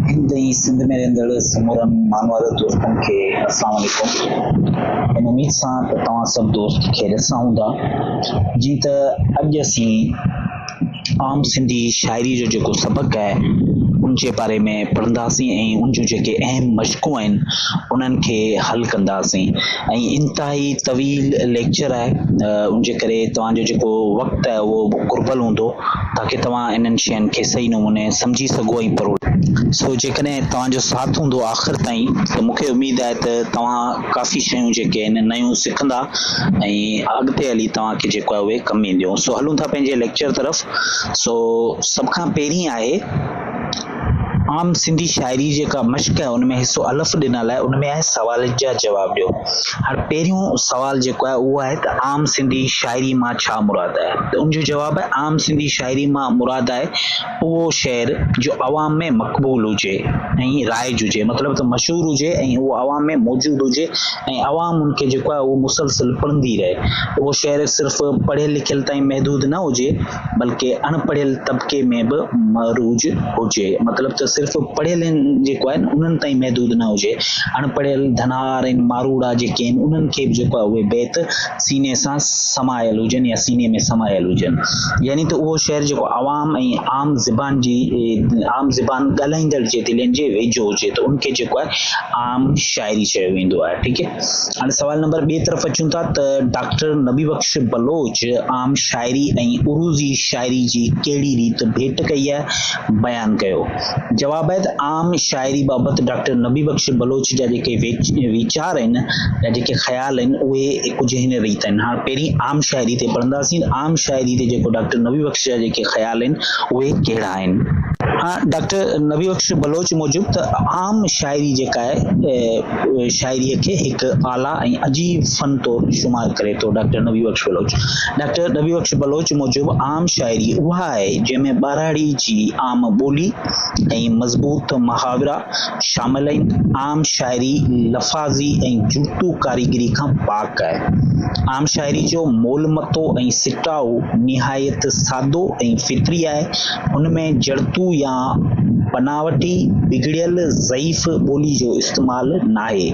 هند ۽ سنڌ ۾ رهندڙ سمورن مانوار دوستن کي اسلام عليڪم. ان اميد سان ته توهان سڀ دوست خيريت سان هوندا. جيئن ته اڄ اسين عام سنڌي شاعري جو جيڪو سبق آهي ان جي باري ۾ پڙهنداسين ۽ ان جون جيڪي اهم مشقون آهن انهن کي حل ڪنداسين ۽ انتهائي طويل ليڪچر آهي ان جي ڪري توهان جو جيڪو وقت آهي اهو قربل هوندو تاڪي توهان انهن شين کي صحيح نموني سمجهي سگهو ۽ پروڙي سگهو. سو جيڪڏهن توهان جو ساٿ هوندو آخر تائين ته مون کي اميد آهي ته توهان ڪافي شيون جيڪي آهن نيون سکندا ۽ اڳتي هلي توهان کي جيڪو آهي اهي ڪم اينديون. سو هلون ٿا پنهنجي ليڪچر طرف سو سڀ کان پهرين آهي. عام سنڌي شاعري جيڪا مشق آهي ان ۾ حصو الف ڏنل آهي ان ۾ آهي سوالن جا جواب ڏيو هاڻي پهريون سوال جيڪو آهي اهو آهي ته عام سنڌي شاعري مان ڇا مراد آهي ته ان جو جواب آهي عام سنڌي شاعري مان مراد آهي اهو شعر جو عوام ۾ مقبول هجي ۽ رائج هجي مطلب ته مشهور هجي ۽ اهو عوام ۾ موجود هجي ۽ عوام ان کي جيڪو آهي اهو مسلسل پڙهندي رهي اهو شعر صرف پڙهيل لکيل تائين محدود نه هجي بلڪه اڻ پڙهيل طبقي ۾ به معروج هجي مطلب ته صرف پڙهيلن جيڪو آهي انهن تائين محدود نه هجي اڻ پڙهيل ڌنار ۽ ماروڙا جيڪي آهن انهن کي به جيڪو آهي اهي بيت سيني سان سمايل هجن يا سيني ۾ سمايل هجن يعني ته اهو شعر جيڪو عوام ۽ عام زبان جي عام زبان ڳالهائيندڙ جي دلين جي ويجهو هجي ته ان کي جيڪو آهي عام شاعري چيو ويندو آهي ٺيڪ آهي هاڻي سوال نمبر ٻي طرف اچون ٿا ته ڊاڪٽر نبي بخش بلوچ عام شاعري ۽ عروضي شاعري جي ڪهڙي ريت ڀيٽ ڪئي آهي، بيان ڪيو. جوابيت عام شاعري بابت ڊاڪٽر نبي بخش بلوچ جا جيڪي ويچار آهن يا جيڪي خيال آهن اهي ڪجهه هن ريت آهن. هاڻ پهرين عام شاعري تي پڙهنداسين. عام شاعري تي جيڪو ڊاڪٽر نبي بخش جا جيڪي خيال آهن اهي ڪهڙا آهن. هاڻ ڊاڪٽر نبي بخش بلوچ موجب ته عام شاعري جيڪا آهي. شاعريء کي هڪ اعليٰ ۽ عجيب فن طور شمار ڪري ٿو. ڊاڪٽر نبي بخش بلوچ ڊاڪٽر نبي بخش بلوچ موجب عام شاعري اها آهي، جنهن ۾ ٻهراڙي جي عام ٻولي ۽ مضبوط محاورا شامل آهن. عام شاعري لفاظي ۽ جوتو ڪاريگري کان پاڪ آهي. عام شاعري جو مول متو ۽ سٽاء نهايت سادو ۽ فطري آهي. ان ۾ جڙتو يا بناوٽي، بگڙيل، ضعيف ٻولي جو استعمال ناهي.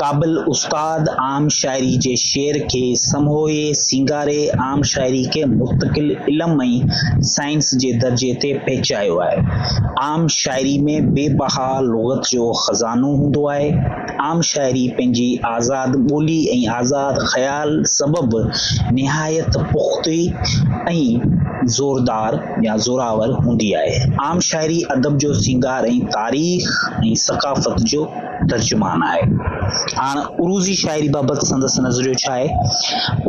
قابل استاد عام شاعري جي شعر کي سموهي سينگاري عام شاعري کي مستقل علم ۽ سائنس جي درجي تي پهچايو آهي. عام شاعري ۾ بي بها لغت جو خزانو هوندو آهي. عام شاعري پنهنجي آزاد ٻولي ۽ آزاد خيال سبب نهايت پختي ۽ زوردار يا زوراور هوندي آهي. عام شاعري ادب جو سينگار ۽ تاريخ ۽ ثقافت جو ترجمان آهي. هاڻ عروضي شاعري بابت سندس نظريو ڇا آهي؟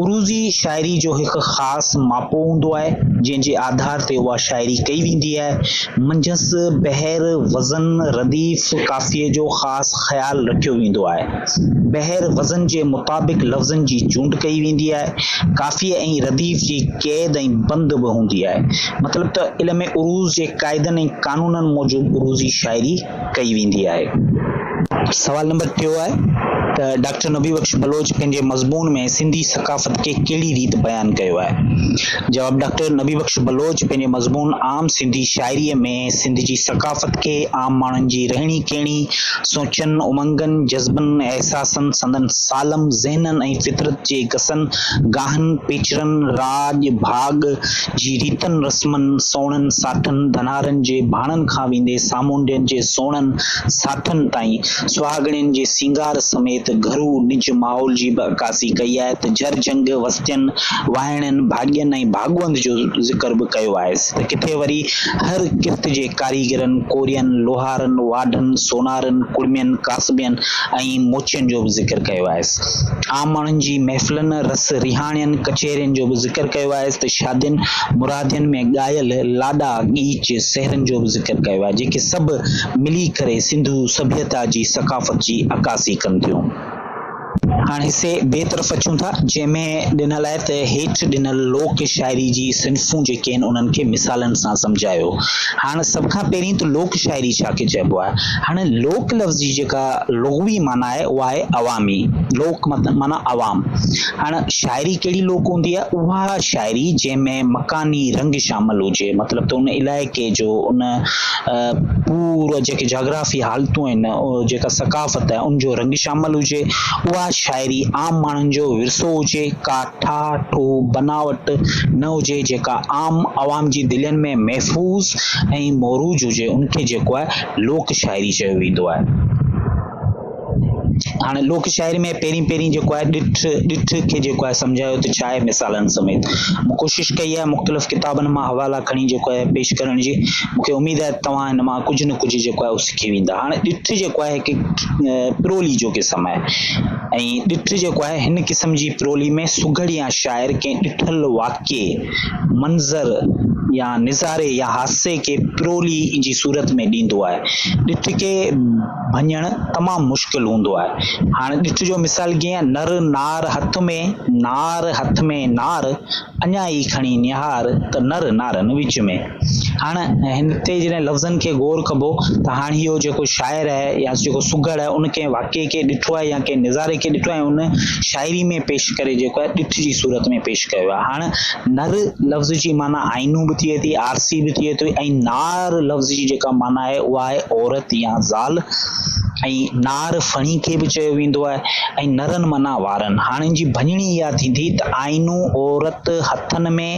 عروضي شاعري جو هڪ خاص ماپو هوندو آهي، جنهن جي آڌار تي اها شاعري ڪئي ويندي آهي. منجهس بحر وزن رديف قافيي جو خاص خيال رکيو ويندو آهي. بحر وزن جي مطابق لفظن جي چونڊ ڪئي ويندي آهي. قافيي ۽ رديف جي قيد ۽ بند به هوندي آهي. مطلب ته علم عروض جي قاعدن ۽ قانونن موجب عروضي شاعري ڪئي ويندي آهي. سوال نمبر ٽيون آهي ته ڊاڪٽر نبي بخش بلوچ پنهنجي مضمون ۾ سنڌي ثقافت کي ڪهڙي ريت بيان ڪيو آهي؟ جواب، ڊاڪٽر نبي بخش بلوچ پنهنجي مضمون عام سنڌي شاعريء ۾ سنڌ جي ثقافت کي عام ماڻهن جي رهڻي ڪهڻي، سوچن، امنگن، جذبن، احساسن، سندن سالم ذهنن ۽ فطرت جي گسن، گاهن، پيچرن، راڄ، ڀاڳ، جي ريتن رسمن، سوڻن ساٺن ڌنارن جي ڀاڻن کان ويندي سامونڊين جي سوڻن ساٺن تائين، سهاڳڻين جي سينگار سميت گهرو نج ماحول جي به عڪاسي ڪئي آهي ته جر جهنگ وستين، وائڻين، ڀاڳين ۽ ڀاڳوند جو ذڪر به ڪيو آهي ته ڪٿي وري هر ڪرت جي ڪاريگرن، ڪورين، لوهارن، واڍن، سونارن، ڪڙمين، ڪاسبين ۽ موچين جو به ذڪر ڪيو آهي. عام ماڻهن جي محفلن، رس رهاڻين، ڪچهرين جو به ذڪر ڪيو آهي. ته شادين مرادين ۾ ڳايل لاڏا ڳيچ سهرن جو به ذڪر ڪيو آهي جيڪي سڀ ملي ڪري سنڌو سڀيتا جي ثقافت جي عڪاسي ڪن ٿيون. هاڻ حصي بي طرف اچون ٿا جنهن ۾ ڏنل آهي ته هيٺ ڏنل لوڪ شاعري جي صنفون جيڪي آهن انهن کي مثالن سان سمجهايو. هاڻ سڀ کان پهرين ته لوڪ شاعري ڇا کي چئبو آهي. هاڻ لوڪ لفظ جي جيڪا لغوي معنيٰ آهي اها آهي عوامي لوڪ مت معنيٰ عوام. هاڻ شاعري ڪهڙي لوڪ هوندي آهي؟ اها شاعري جنهن ۾ مڪاني رنگ شامل هجي مطلب ته ان علائقي جو ان پورو جيڪي جاگرافي حالتون آهن جيڪا ثقافت آهي ان جو رنگ شامل هجي اها شاعري عام ماڻهن جو ورثو هجي ڪا ٺاهه ٺوهه بناوٽ نه هجي جيڪا عام عوام جي دلين ۾ محفوظ ۽ موروج هجي ان کي جيڪو آهي لوڪ شاعري چيو ويندو آهي. هاڻي لوڪ شاعري ۾ پهرين پهرين جيڪو آهي ڏٺ ڏٺ کي جيڪو آهي سمجهايو ته ڇا آهي مثالن سميت مون ڪوشش ڪئي آهي مختلف ڪتابن مان حوالا کڻي جيڪو آهي پيش ڪرڻ جي مون کي اميد آهي ته توهان هن مان ڪجهه نه ڪجهه جيڪو آهي اهو سکي ويندا هاڻي ڏٺ جيڪو آهي هڪ پرولي جو قسم آهي ۽ ڏٺ جيڪو آهي هن قسم جي پرولي ۾ سگهڙ يا شاعر ڪنهن ڏٺل واقعي منظر يا نظاري يا حادثي کي پرولي جي صورت ۾ ڏيندو آهي ڏٺ کي ڀڃڻ تمام مشڪل هوندو آهي. هاڻ ڏٺجو مثال ڪيئن نر نار هٿ ۾ نار هٿ ۾ نار اڃا ئي کڻي نهار ته نر نارن وچ ۾. هاڻ هتي جڏهن لفظن کي غور ڪبو ته هاڻ اهو جيڪو شاعر آهي يا جيڪو سگهڙ آهي ان ڪنهن واقعي کي ڏٺو آهي يا ڪنهن نظاري کي ڏٺو آهي ان شاعري ۾ پيش ڪري جيڪو آهي ڏٺ جي صورت ۾ پيش ڪيو آهي. هاڻ نر لفظ جي معنيٰ آئينو به ٿئي ٿي، آرسي به ٿئي ٿي ۽ نار نار لفظ جي جيڪا معنيٰ آهي اها آهي عورت يا زال ۽ نار ڦڻي کي به چيو ويندو آهي ۽ نرن معنيٰ وارن. هاڻ ان جي ڀڃڻي اها ٿيندي ته آئينو عورت هٿن ۾،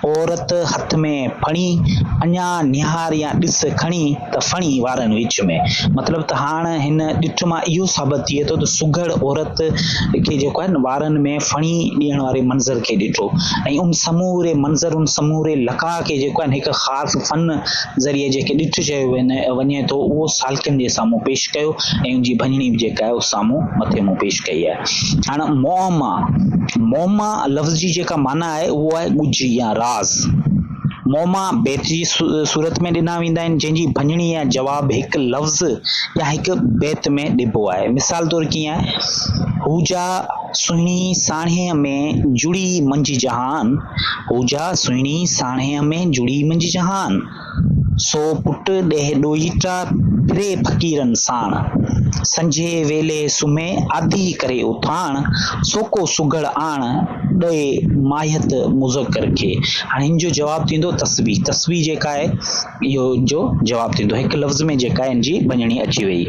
عورت هٿ ۾ ڦڻي، اڃا نهار يا ڏس کڻي ته ڦڻي وارن وچ ۾. مطلب ته هاڻ هن ڏٺ مان اهو ثابت ٿئي ٿو ته سگهڙ عورت کي جيڪو آهي وارن ۾ ڦڻي ڏيڻ واري منظر کي ڏٺو ۽ ان سموري منظر، ان سموري لقاء کي جيڪو آهي هڪ خاص حرف فن ذريعي جنهن کي ڏٺ چيو وڃي ٿو اهو سالڪن جي سامهون پيش ڪيو ۽ ان جي ڀڃڻي به جيڪا آهي سامهون مٿي مون پيش ڪئي آهي. هاڻ معما، معما لفظ جي جيڪا معنيٰ آهي اهو آهي ڳجهي يا راز. معما بيت جي صورت ۾ ڏنا ويندا آهن جنهن جي ڀڃڻي يا جواب هڪ لفظ يا هڪ بيت ۾ ڏبو آهي. مثال طور ڪيئن آهي، هو جا، سهڻي ساڻيهه ۾ جڙي منجهه جهان، هوجا سهڻي ساڻيهه ۾ جڙي منجهه جهان، سو پٽ ڏيهه ڏوهيٽا ڦري فقيرن ساڻ، سنجهي ويلي سمهي آڌي ڪري اٿاڻ، سو ڪو سگهڙ آڻ، ڏئي ماهيت مذڪر کي. هاڻي هن جو جواب ٿيندو تسبيح، تسبيح جيڪا آهي. اهو ان جو جواب ٿيندو. هڪ لفظ ۾ جيڪا ان جي ڀڃڻي اچي ويئي.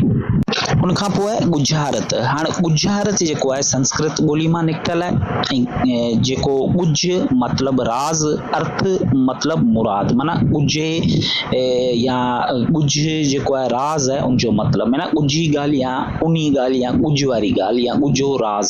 ان کان پوء ڳجهارت. هاڻ ڳجهارت جيڪو آهي سنسڪرت ٻولي مان نڪتل آهي ۽ جيڪو ڳجهه مطلب راز ارٿ مطلب مراد معنيٰ ڳجهي يا ڳجهه جيڪو آهي راز آهي ان جو مطلب معنيٰ ڳجهي ڳالهه يا اونهي ڳالهه يا ڳجهه واري ڳالهه يا ڳجهو راز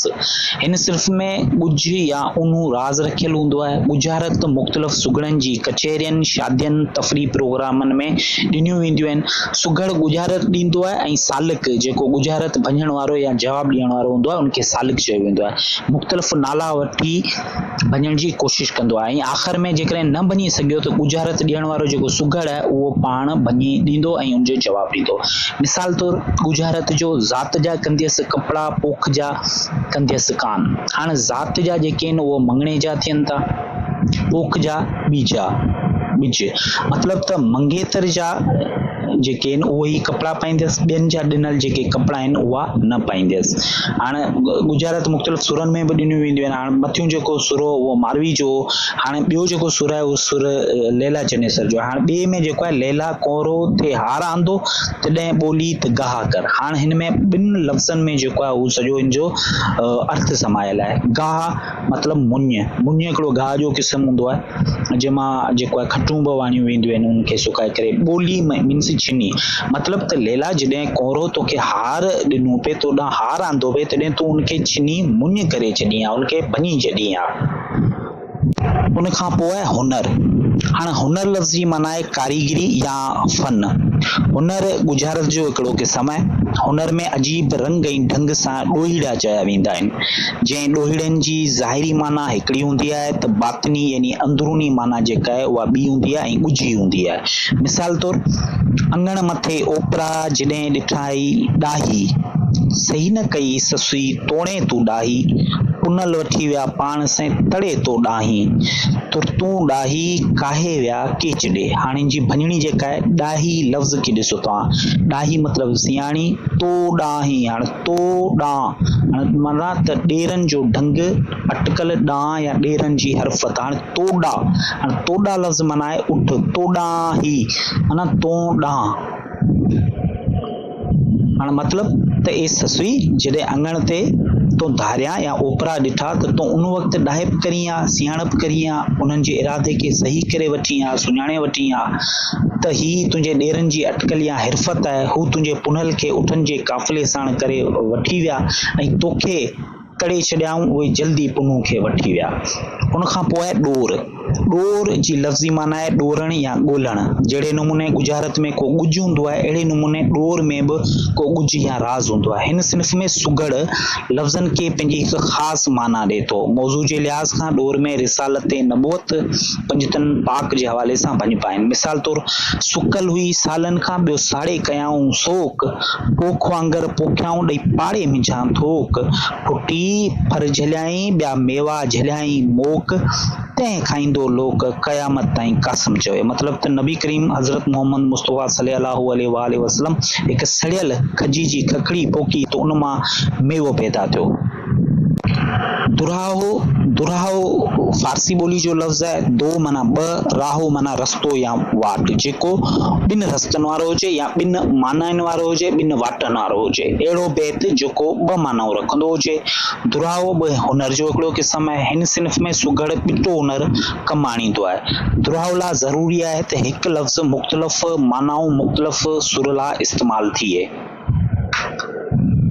هن صنف ۾ ڳجهه يا اونهو راز رکيل هوندو آهي. ڳجهارت مختلف سگهڙن جي ڪچهرين، شادين، تفريح پروگرامن ۾ ڏنيون وينديون آهن. سگهڙ ڳجهارت ڏيندو آهي ۽ سالڪ جيڪو ڳجهارت ڀڃڻ وارو يا جواب ڏيڻ وارو هوندو آهي ان کي سالڪ چيو ويندو آهي. مختلف نالا وٺي ڀڃڻ جي ڪوشش ڪندو آهي ۽ آخر ۾ جيڪڏهن نه ڀڃي سگهيو ته ڳجهارت ڏيڻ وارو جيڪو سگهڙ آهي اهو پاڻ ڀڃي ڏيندو ۽ ان جو جواب ڏيندو. مثال طور ڳجهارت جو ذات جا ڪنديس ڪپڙا پوک جا ڪنديس ڪان. هاڻ ذات جا جيڪي آهن اهو مڱڻي جا ٿين ٿا. پوک جا ٻيجا ٻج مطلب ته منگيتر جا جيڪي آهن اهو ئي ڪپڙا پائيندس ٻين جا ڏنل جيڪي ڪپڙا آهن اها نه پائيندس هاڻ ڳجهارات مختلف سرن ۾ به ڏنيون وينديون آهن هاڻ مٿيون جيڪو سرو هو اهو ماروي جو هو هاڻ ٻيو جيڪو سر آهي اهو سر ليلا چنيسر جو هاڻ ٻئي ۾ جيڪو آهي ليلا ڪورو ٿئي هار آندو تڏهن ٻولي ته گاها ڪر هاڻ هن ۾ ٻن لفظن ۾ جيڪو آهي اهو سڄو هن جو ارٿ سمايل آهي گاها مطلب مڃ، مڃ هڪڙو گاهه جو قسم هوندو آهي جنهن مان جيڪو آهي کٽون به وڻيون وينديون آهن ان کي سڪائي ڪري ٻولي ۾ means ڇني مطلب ته ليلا جڏهن ڪونرو توکي هار ڏنو پي تو ڏانهن هار آندو پي تڏهن تون ان کي ڇني مڃ ڪري ڇڏين ها ان کي ڀڃي ڇڏين ها. ان کان پوء آهي هنر، هاڻ هنر لفظ جي معنيٰ آهي ڪاريگري يا فن، هنر ڳجهارت جو هڪڙو قسم آهي. هنر ۾ عجيب رنگ ۽ ڍنگ سان ڏوهيڙا چيا ويندا آهن، جنهن ڏوهيڙن جي ظاهري معنيٰ هڪڙي هوندي آهي ته باطني يعني اندروني معنيٰ جيڪا آهي اها ٻي هوندي آهي ۽ ڳجهي هوندي آهي. مثال طور، اڱڻ مٿي اوپرا جڏهن ڏٺائي ڏاهي، صحيح نه ڪئي سسئي توڻي تون ڏاهي، پنل وٺي ويا پاڻ سين تڙي تو ڏاهين، ترتون ڏاهي ڪاهي ويا. اڪي چڏي هاڻي جي ڀڃڻي جيڪا آهي ڏاهي لفظ کي ڏسو توهان ڏاهي مطلب سياڻي تو ڏانهي هاڻي تو ڏانهن معنيٰ ته ڏيرن جو ڍنگ اٽڪل ڏانهن يا ڏيرن جي حرفت هاڻي تو ڏا هاڻي تو ڏا لفظ معنيٰ آهي اٺ تو ڏانهي معنيٰ تون ڏانهن هاڻ مطلب ته اي سسئي، جڏهن اڱڻ تي تون ڌاريان يا اوپرا ڏٺا ته تون ان وقت ڏاهپ ڪرين ها، سياڻپ ڪرين ها، انهن جي ارادي کي صحيح ڪري وٺين ها، سڃاڻي وٺين ها ته هي تنهنجي ڏيرن جي اٽڪل يا حرفت آهي، هو تنهنجي پنهل کي اٺن جي قافلي ساڻ ڪري وٺي ويا ۽ توکي ڪري ڇڏيائون اهي جلدي پنهون کي وٺي ويا. ان کان پوء ڏور، ڏور جي لفظي معنيٰ آهي ڏورڻ يا ڳولڻ، جهڙي نموني ڳجهارت ۾ ڪو ڳجهه هوندو آهي اهڙي نموني ڏور ۾ به ڪو ڳجهه يا راز هوندو آهي. هن صنف ۾ سگهڙ لفظن کي پنهنجي هڪ خاص معنيٰ ڏئي ٿو. موضوع جي لحاظ کان ڏور ۾ رسالت نبوت پنجتن پاڪ جي حوالي سان ڀڃپ آهن. مثال طور سڪل هئي سالن کان ٻيو ساڙي ڪيائون سوڪ. پوک وانگر پوکيائون ڏئي پاڙي ۾ جهان ٿوڪ، ڦٽي ڦر جهليائين ٻيا ميوا جهليائين موڪ، تنهن کائيندو لوڪ قيامت تائين قاسم چوي مطلب ته نبي ڪريم حضرت محمد مصطفيٰ صلي الله عليه وآله وسلم هڪ سڙيل کجي جي ککڙي پوکي ته ان مان ميوو پيدا ٿيو. دراهو، دراهو فارسي ٻولي جو لفظ آهي، دو معنيٰ ٻه، راهو معنيٰ رستو يا واٽ جيڪو ٻن رستن وارو هجي يا ٻن معنائن وارو هجي ٻن واٽن وارو هجي اهڙو بيت جيڪو ٻه معنائون رکندو هجي. دراهو به هنر جو هڪڙو قسم آهي. هن صنف ۾ سگهڙ ڏٽو هنر ڪم آڻيندو آهي. دراهو لاء ضروري آهي ته هڪ لفظ مختلف معنائون مختلف سر لاء استعمال ٿئي.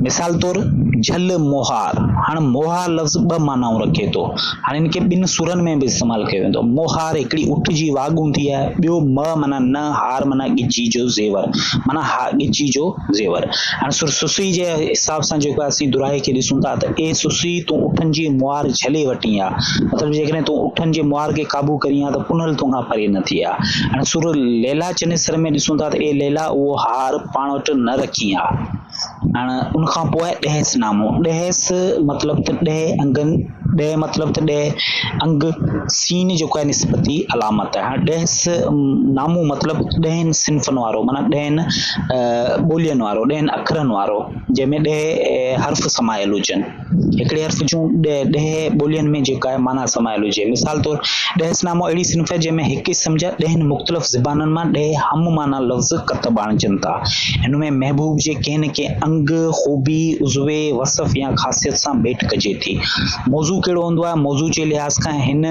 مثال طور جهل مهار، هاڻ مهار لفظ ٻه معنائون رکي ٿو. هاڻ ان کي ٻن سرن ۾ به استعمال ڪيو ويندو. مهار هڪڙي اٺ جي واڳ هوندي آهي. ٻيو مهه معنيٰ نه هار معنيٰ ڳچيء جو زيور معنيٰ ها ڳچيء جو زيور. هاڻ سر سسئي جي حساب سان جيڪو آهي سي دوراهي کي ڏسون ٿا ته اي سسئي تون اٺن جي مهار جهلي وٽين آ مطلب جيڪڏهن تون اٺن جي مهار کي قابو ڪرين ها ته پنهل تون کان پري نه ٿئي ها. هاڻ سر ليلا چنيسر ۾ ڏسون ٿا ته اي ليلا اهو هار پاڻ وٽ نه رکي ها. هاڻ ان کان پوء ڏهس نامو، ڏهس مطلب ته ڏهه انگن، ڏهه مطلب ته ڏهه انگ، سين جيڪو آهي نسبتي علامت آهي. هاڻ ڏهس نامو مطلب ڏهن صنفن وارو معنيٰ ڏهن ٻولين وارو، ڏهن اکرن وارو جنهن ۾ ڏهه حرف سمايل هجن. هڪڙي حرف جون ڏهه ٻولين ۾ جيڪا معنيٰ سمايل هجي. مثال طور، ڏهس نامو اهڙي صنف آهي جنهن ۾ هڪ اسم جا ڏهن مختلف زبانن مان ڏهه هم معنيٰ لفظ ڪتب آڻجن ٿا. هن ۾ محبوب جي ڪنهن نه ڪنهن انگ، خوبي، عضوي، وصف يا خاصيت سان ڀيٽ ڪجي ٿي. موضوع ڪهڙو هوندو آهي؟ موضوع جي لحاظ کان هن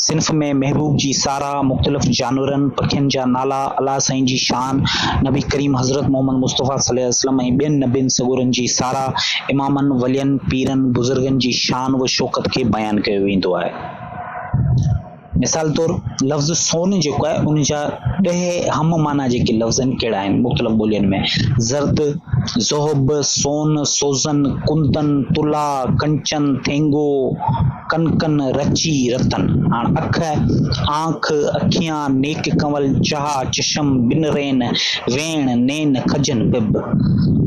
صنف ۾ محبوب جي ساراهه، مختلف جانورن، پکين جا نالا، الله سائين جي شان، نبي ڪريم حضرت محمد مصطفيٰ صلي الله عليه وسلم ۽ ٻين نبين سڳورن جي ساراهه، امامن، ولين، پيرن، بزرگن جي شان و شوڪت کي بيان ڪيو ويندو آهي. مثال طور لفظ سون جيڪو آهي ان جا ڏهه هم معنيٰ جيڪي لفظ آهن ڪهڙا آهن مختلف ٻولين ۾، زرد، ذهب، سون، سوزن، ڪندن، طلا، ڪنچن، ٿينگو، ڪن ڪن رچي رتن، هاڻ اک، آنک، اکيان، نيڪ ڪنول، چها، چشم، ٻن رين، ويڻ، نين، کجن، پٻ.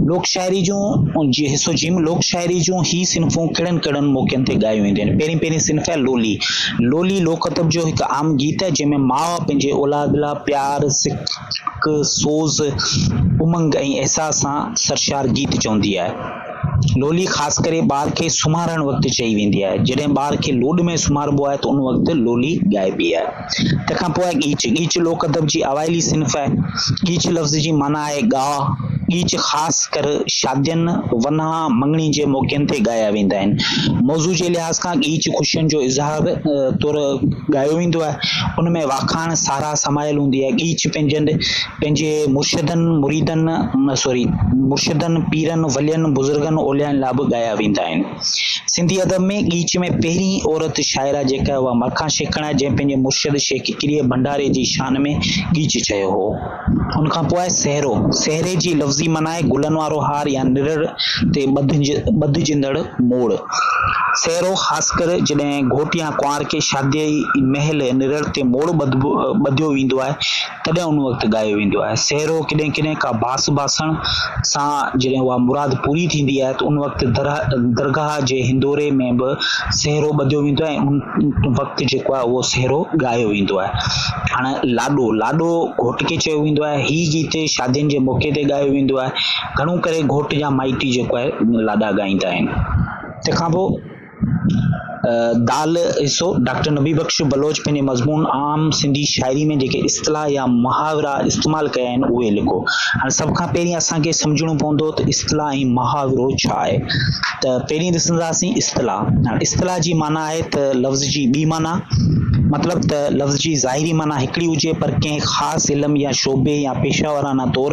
لوڪ شاعري جون جي حصو جيم لوڪ شاعري جون هي صنفون ڪهڙن ڪهڙن موقعن تي ڳايون وينديون آهن. پهرين پهرين صنف آهي لولي. لولي لوڪ ادب جو هڪ عام گيت آهي جنهن ۾ ماء پنهنجي اولاد لاء پيار، سڪ، سوز، امنگ ۽ احساس سان سرشار گيت چوندي آهي. لولي خاص ڪري ٻار کي سمهارڻ وقت چئي ويندي آهي. جڏهن ٻار کي لوڏ ۾ سمهاربو آهي ته ان وقت لولي ڳائبي آهي. تنهن کان پوء آهي ڳيچ، ڳيچ لوڪ ادب جي اوائلي صنف آهي. ڳيچ لفظ جي معنيٰ آهي ڳاء. ڳيچ خاص ڪر شادين، ونهان، مڱڻي جي موقعن تي ڳايا ويندا آهن. موضوع جي لحاظ کان ڳيچ خوشين جو اظهار طور ڳايو ويندو آهي. ان ۾ واکاڻ، ساراهه سمايل هوندي آهي. ڳيچ پنهنجن پنهنجي مرشدن مريدن سوري مرشدن پيرن ولين بزرگن اوليائن لاء به ڳايا ويندا آهن. سنڌي ادب ۾ ڳيچ ۾ پهرين عورت شاعره جيڪا اها مرکان شيخڻ آهي جنهن پنهنجي مرشد شيخ ڪڪريي ڀنڊاري جي شان ۾ ڳيچ چيو هو. ان کان پوء آهي سهرو. سهري جي لفظي معنيٰ آهي گلن وارو هار يا نرڙ تي ٻڌجندڙ موڙ. سهرو خاص ڪر جڏهن گهوٽ يا ڪنوار کي شاديء مهل نرڙ تي موڙ ٻڌيو ويندو آهي، تڏهن ان وقت ڳايو ويندو آهي. سهرو ڪڏهن ڪڏهن ڪا باس باسڻ سان جڏهن اها مراد پوري ٿيندي آهي ته ان وقت درگاهه جي هندوري ۾ به سهرو ٻڌو ويندو آهي ۽ ان وقت جيڪو آهي اهو سهرو ڳايو ويندو آهي. هاڻ لاڏو، لاڏو گهوٽ کي چيو ويندو آهي. هي گيت شادين جي موقعي تي ڳايو ويندو آهي. گهڻو ڪري گهوٽ جا مائٽي جيڪو آهي لاڏا ڳائيندا آهن. تنهن کان پوء دال حصو، ڊاڪٽر نبي بخش بلوچ پنهنجي مضمون عام سنڌي شاعري ۾ جيڪي اصطلاح يا محاورا استعمال ڪيا آهن اهي لکو. هاڻي سڀ کان پهرين اسان کي سمجهڻو پوندو ته اصطلاح ۽ محاورو ڇا آهي. ته پهرين ڏسنداسين اصطلاح. اصطلاح جي معنيٰ آهي ته لفظ جي ٻي معنيٰ. مطلب ته لفظ جي ظاهري معنيٰ هڪڙي هجي پر ڪنهن خاص علم يا شعبي يا پيشه وارانه طور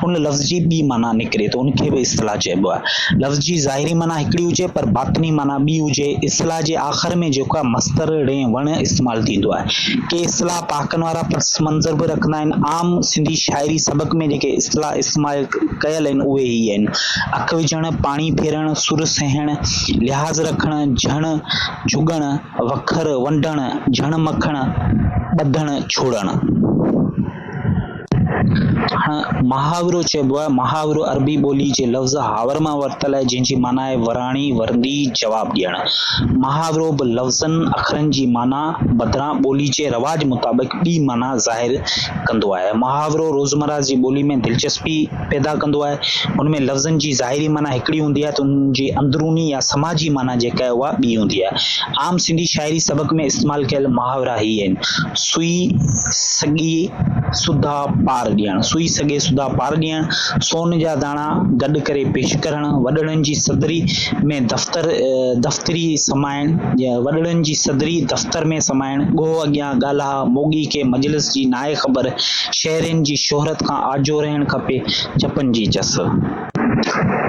ان لفظ جي ٻي معنيٰ نڪري ته ان کي به اصطلاح چئبو چئبو آهي. لفظ جي ظاهري معنيٰ هڪڙي هجي پر باطني معنيٰ ٻي هجي. اصطلاح جي آخر ۾ جيڪا مصدر ڙين وڻ استعمال ٿيندو آهي. ڪي اصطلاح پهاڪن وارا پس منظر به رکندا آهن. عام سنڌي شاعري سبق ۾ جيڪي اصطلاح استعمال ڪيل آهن اهي هي آهن، اک وجهڻ، پاڻي ڦيرڻ، سر سهڻ، لحاظ رکڻ، جهڻ، جهڳڻ، وکر، ونڊڻ، جهڻ مکڻ، ٻڌڻ، ڇوڙڻ. محاورو چئبو آهي، محاورو عربي ٻولي جي لفظ حاور مان ورتل آهي جنهن جي معنيٰ آهي وراڻي، ورندي، جواب ڏيڻ. محاورو به لفظن، اکرن جي معنيٰ بدران ٻولي جي رواج مطابق ٻي معنيٰ ظاهر ڪندو آهي. محاورو روزمرهه جي ٻولي ۾ دلچسپي پيدا ڪندو آهي، ان ۾ لفظن جي ظاهري معنيٰ هڪڙي هوندي آهي ته انهن جي اندروني يا سماجي معنيٰ جيڪا آهي اها ٻي هوندي آهي. عام سنڌي شاعري سبق ۾ استعمال ڪيل محاورا هي آهن، سوئي سڳي سوڌا پار ڏيڻ، سوئي سڳي سوڌا پار ڏيڻ، سون جا داڻا گڏ ڪري پيش ڪرڻ، وڏڙن جي صدري ۾ دفتر دفتري سمائڻ، وڏڙن جي صدري دفتر ۾ سمائڻ، ڳوهه اڳيان ڳالهه، ڇا موڳي کي مجلس جي ناهي خبر، شهرين جي شهرت کان آجو رهڻ کپي، جپن جي چس.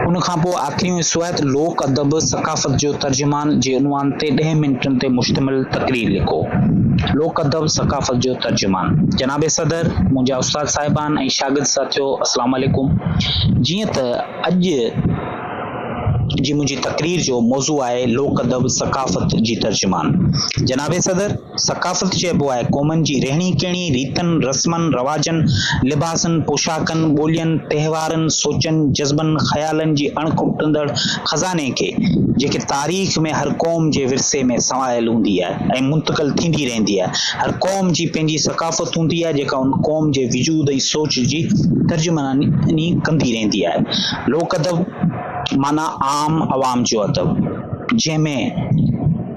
ان کان پوء آخري ۽ سوات لوڪ ادب ثقافت جو ترجمان جي عنوان تي ڏهه منٽن تي مشتمل تقرير لکو. لوڪ ادب ثقافت جو ترجمان. جناب صدر، منهنجا استاد صاحبان ۽ شاگرد ساٿيو السلام عليڪم. جيئن ته اڄ جي منهنجي تقرير جو موضوع آهي لوڪ ادب ثقافت جي ترجمان. جناب صدر! ثقافت چئبو آهي قومن جي رهڻي ڪهڻي، ريتن، رسمن، رواجن، لباسن، پوشاڪن، ٻولين، تهوارن، سوچن، جذبن، خيالن جي اڻ کٽندڙ خزاني کي، جيڪي تاريخ ۾ هر قوم جي ورثي ۾ سنواريل هوندي آهي ۽ منتقل ٿيندي رهندي آهي. هر قوم جي پنهنجي ثقافت هوندي آهي جيڪا ان قوم جي وجود ۽ سوچ جي ترجماني ڪندي رهندي آهي. لوڪ ادب معنيٰ عام عوام جو ادب. جنهن ۾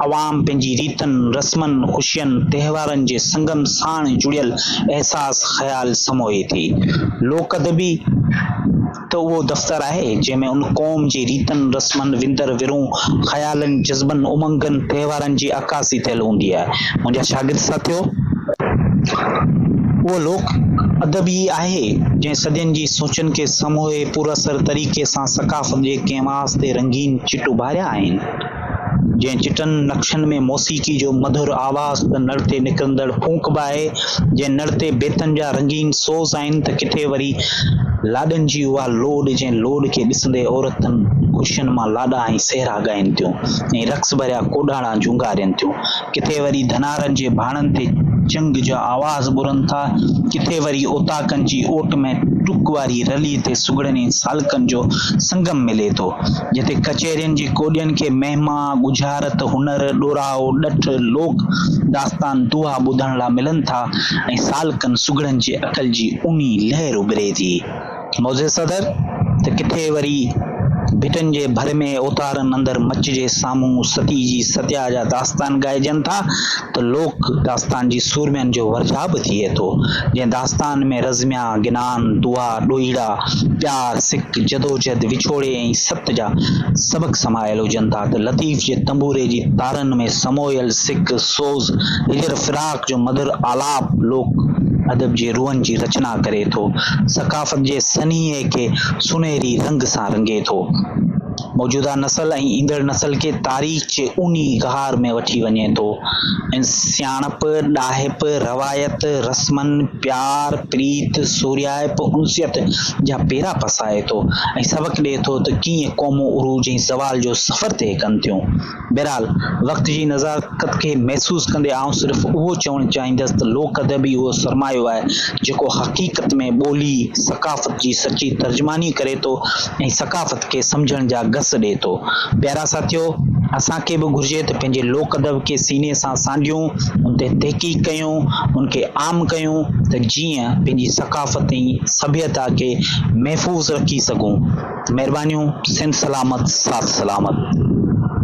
عوام پنهنجي ريتن، رسمن، خوشين، تهوارن جي سنگم ساڻ جڙيل احساس خيال سموئي ٿي. لوڪ ادبي ته اهو دفتر آهي جنهن ۾ ان قوم جي ريتن، رسمن، وندر ورهون، خيالن، جذبن، امنگن، تهوارن جي عڪاسي ٿيل هوندي آهي. منهنجا شاگرد ساٿيو! اهو لوڪ ادب ئي آهي جنهن صدين جي سوچن کي سموئي پراثر طريقي سان ثقافت جي ڪنهن ڪئنواس تي رنگين چٽ اڀاريا آهن، جنهن چٽن نقشن ۾ موسيقي جو مڌر آواز ته نڙ تي نڪرندڙ ڦونڪ به آهي، جنهن نڙ تي بيتن جا رنگين سوز آهن ته ڪٿي وري لاڏن جي اها لوڏ، جنهن لوڏ کي ڏسندي عورتن خوشين مان لاڏا ۽ سهرا ڳائين ٿيون ۽ رقص ڀريا ڪوڏاڻا جهونگارين ٿيون. ڪٿي وري ڌنارن جي ڀاڻن تي چنگ جا آواز ٻرن ٿا، ڪٿي وري اوطاقن جي اوٽ ۾ ٽوڪ واري رلي تي سگهڙني سالڪن جو سنگم ملي ٿو، جتي ڪچهرين جي ڪوڏين کي مهما، ڳجهارت، هنر، ڏورائو، ڏٺ، لوڪ داستان، دوها ٻڌڻ لا ملن ٿا ۽ سالڪن سگهڙن جي عقل جي اونهي لهر اڀري ٿي. معزز صدر، ته ڪٿي وري ڀٽن جي ڀر ۾ اوتارن اندر مچ جي سامهون ستي جي ستيا جا داستان ڳائجن ٿا ته لوڪ داستان جي سورمين جو ورجاء به ٿئي ٿو، جنهن داستان ۾ رزميا، گنان، دعا، ڏوهيڙا، پيار، سڪ، جدوجھد، وڇوڙي ۽ ست جا سبق سمايل هجن ٿا ته لطيف جي تنبوري جي تارن ۾ سمويل سڪ، سوز، هجر، فراق، جو مڌر آلاپ لوڪ ادب جي روحن جي رچنا ڪري ٿو، ثقافت جي سنيهي کي سونهري رنگ سان رنگي ٿو. موجوده نسل ۽ ايندڙ نسل کي تاريخ جي اونهي غار ۾ وٺي وڃي ٿو ۽ سياڻپ، ڏاهپ، روايت، رسمن، پيار، پريت، سورهيائپ، انسيت جا پيرا پسائي ٿو ۽ سبق ڏئي ٿو ته ڪيئن قومون عروج ۽ زوال جو سفر طئي ڪن ٿيون. بهرحال وقت جي نزاڪت کي محسوس ڪندي آئون صرف اهو چوڻ چاهيندس ته لوڪ ادب ئي اهو سرمايو آهي جيڪو حقيقت ۾ ٻولي، ثقافت جي سچي ترجماني ڪري ٿو ۽ ثقافت کي سمجهڻ جا گس ڏئي ٿو. پيارا ساٿيو! اسان کي به گهرجي ته پنهنجي لوڪ ادب کي سيني سان سانڍيون، ان تي تحقيق ڪيون، ان کي عام ڪيون ته جيئن پنهنجي ثقافت ۽ سڀيتا کي محفوظ رکي سگهون. مهربانيون، سنڌ سلامت، ساٿ سلامت.